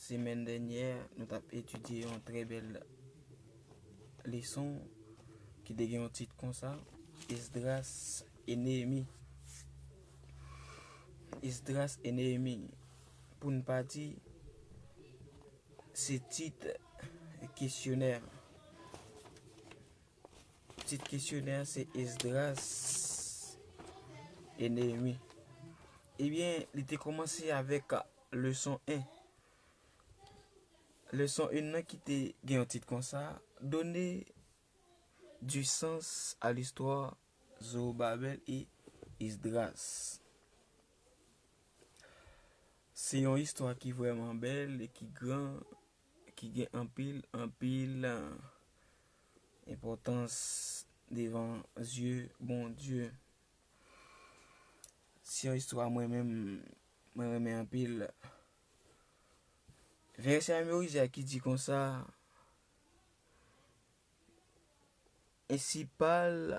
Semèn dènyè nou t ap etidye yon trè bèl leson ki te gen yon tit konsa, Esdras e Neyemi. Esdras e Neyemi, pou n pa di, se tit kesyonè. Tit kesyonè a se Esdras e Neyemi. Ebyen, li te kòmanse avèk leson 1. Leson 1 nan ki te gen yon tit kon sa, Done du sans a listwa Zorobabel e Esdras. Se yon istwa ki vreman bèl e ki gran, ki gen anpil, anpil Enpòtans devan zye Bondye. Se yon istwa mwen menm mwen renmen anpil. Vèsè a morize a ki di konsa. E si pal.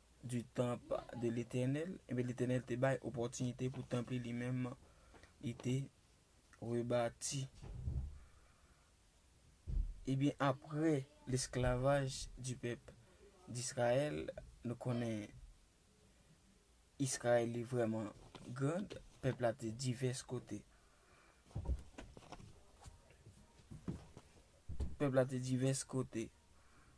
du temp de Letènèl, enben Letènèl te bay opòtinite pou temp li li menm li te rebati. Ebyen apre lesklavaj du pèp d'Israyèl, nou konnen Israël li vrèman grand, pèp la te divès kote. Pèp la te divès kote.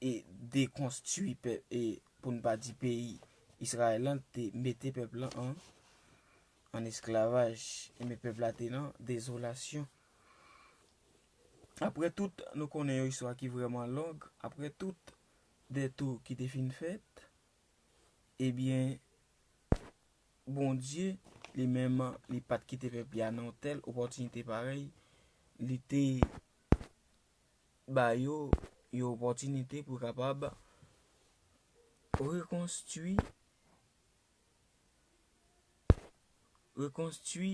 e dekonstwi e pou n pa di peyi Israël lan te mete pèp lan an an esklavaj e men pèp la te nan dezolasyon. Aprè tout nou konnen yon istwa ki vreman long, aprè tout detou ki te fin fèt, e byen Bondye li menm li pat kite pèp li a nan tèl opòtinite parèy, li te ba yo yon opòtinite pou kapab rekonstwi rekonstwi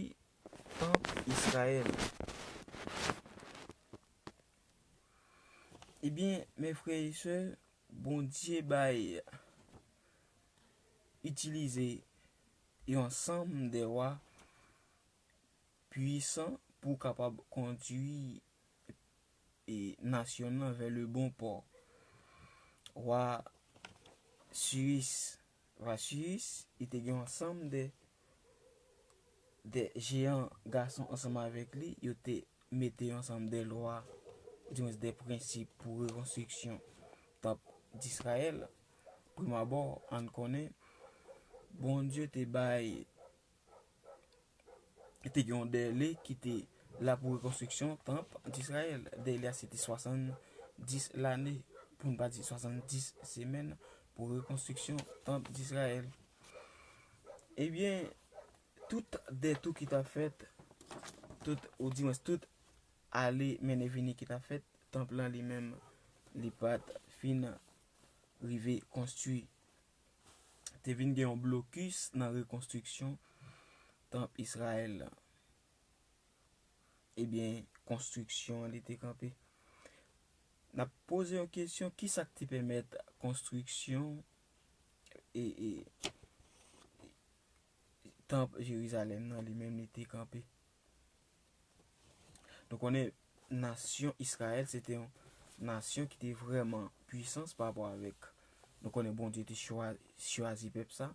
tanp Israël. Ebyen, men frè e sè, Bondye bay itilize yon sanm de wa pwisan pou w kapab kondwi nasyon nan vè le bon pò. Wa Siris, wa Siris, li te gen yon ansanm de jeyan gason ansanm avèk li, yo te mete yon ansanm de lwa, di mwen se de prensip pou rekonstriksyon tanp Disrayèl. Primabò, ann konnen, Bondye te bay. te gen yon dèle ki te la pou rekonstriksyon tanp d'Israël. Dèle a se te 70 lane, pou n pa di 70 semèn, pou rekonstriksyon tanp d'Israël. Ebyen, tout dèt ou ki ta fèt, ou di mwen, tout ale menen vini ki ta fèt, tanp lan li menm li pat fin rive konstwi. te vin gen yon blokis nan rekonstriksyon tanp Israël la. Ebyen, konstriksyon an li te kanpe. N ap poze yon kesyon, ki sa k te pèmèt konstriksyon e tanp Jerizalèm nan li menm li te kanpe? Nou konnen nasyon Israël se te yon nasyon ki te vreman pwisans pa apwa avèk. Nou konnen bon Dieu te chwazi pèp sa.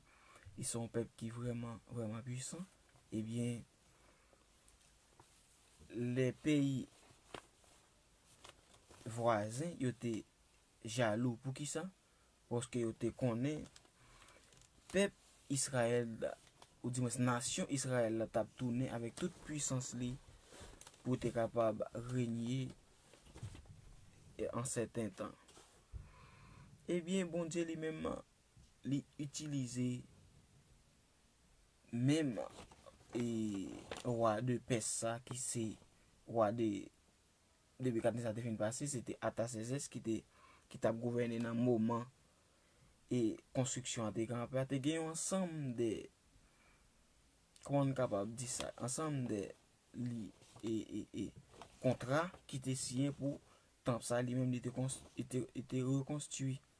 E son pèp ki vreman vreman pwisans. E byen le peyi vwazen yo te jalou pou ki sa? Paske yo te konnen pèp Israël la, oudimwens nasyon Israël la tap tounen avèk tout pwisans li pou te kapab renye an sèten tan. Ebyen Bondye li menm li itilize menm e wa de pès sa ki se wa de depi katni sa te fin pase, se te Atasèzès ki te, ki t ap gouvène nan moman e konstriksyon an te kanpe a, te gen yon ansanm de, kòman n kapab di sa, ansanm de li, e, e, e, kontra ki te siyen pou tanp sa li menm li te konstwi, li te rekonstwi.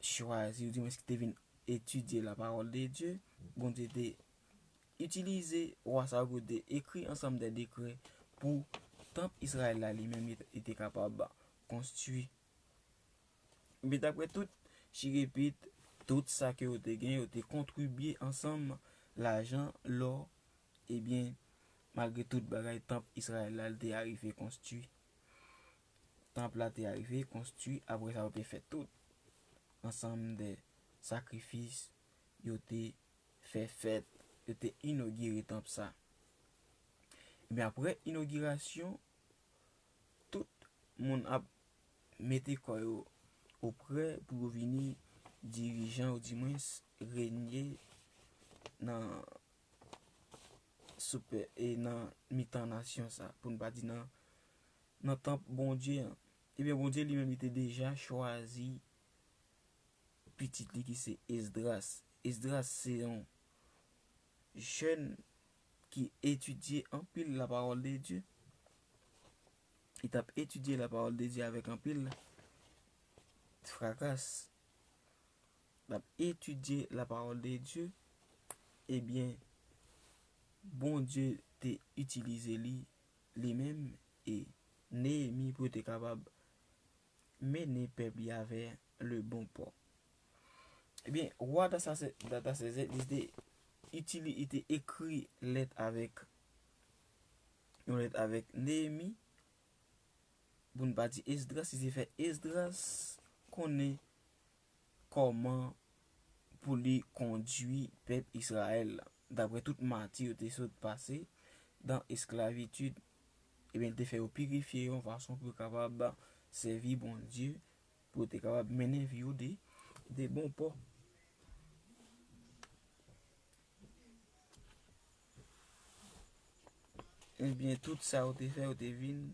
chwazi ou di mwen s ki te vin etidye la pawòl de Dye, Bondye te itilize wa sa yo pou te ekri ansanm de dekrè pou tanp Izrayèl la li menm li te kapab konstwi. Men dapre tout chirepit, tout sa ke yo te gen, yo te kontribye ansanm lajan, lò, ebyen malgre tout bagay tanp Izrayèl la li te arive konstwi. Tanp la te arive konstwi apre sa yo te fè tout ansanm de sakrifis, yo te fè fèt, yo te inogire tanp sa. Ebyen apre inogirasyon, tout moun ap mete kò yo oprè pou yo vini dirijan ou di mwens renye nan sou pè e nan mitan nasyon sa, pou n pa di nan nan tanp Bondye an. Ebyen, Bondye li menm li te deja chwazi pitit li ki se Esdras. Esdras se yon jèn ki etidye anpil lapawòl de Dye. Li t ap etidye lapawòl de Dye avèk anpil frakas. L ap etidye lapawòl de Dye. Ebyen, Bondye te itilize li li menm e Neyemi pou yo te kapab mennen pèp li avè le bon pò. Ebyen, wa Atasasèzè, li te itili, li te ekri lèt avèk, yon lèt avèk Neyemi, pou n pa di Esdras, li te fè Esdras konnen kòman pou li kondui pèp Israël la, daprè tout mati yo te sot pase dan esklavitid, ebyen li te fè yo pirifye yon fason pou yo kapab sèvi Bondye, pou yo te kapab mennen vi yo de de bon pò. Ebyen tout sa yo te fè yo te vin.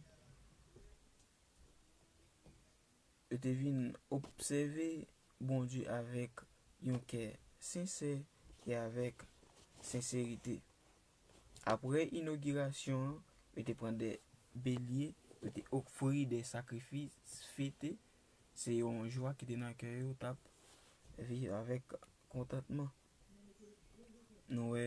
Yo te vin obsève Bondye avèk yon kè sensè e avèk senserite. Apre inogirasyon an, yo te pran de belye, yo te ofri de sakrifis fete, se yon jwa ki te nan kè yo, yo t ap viv avèk kontantman. Nou wè,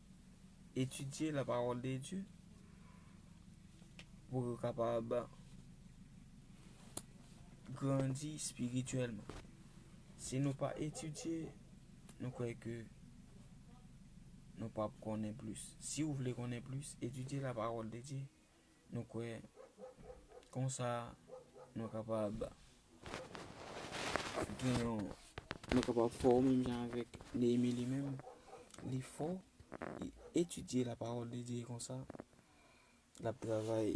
etidye la pawòl de Dye pou yo kapab grandi espirityèlman. Si nou pa etidye, nou kwè ke nou pap konnen plis. Si ou vle konnen plis, etidye la pawòl de Dye. Nou kwè, konsa, nou kapab gen yon. Nou kapab fò menm jan avèk Neyemi li menm. Li fò, li etidye lapawòl de Dye konsa. L ap travay,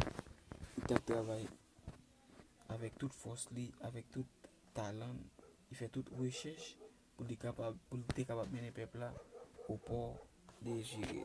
li t ap travay avèk tout fòs li, avèk tout talan l. Li fè tout rechèch pou li kapab, pou li te kapab mennen pèp la o pò de Jire.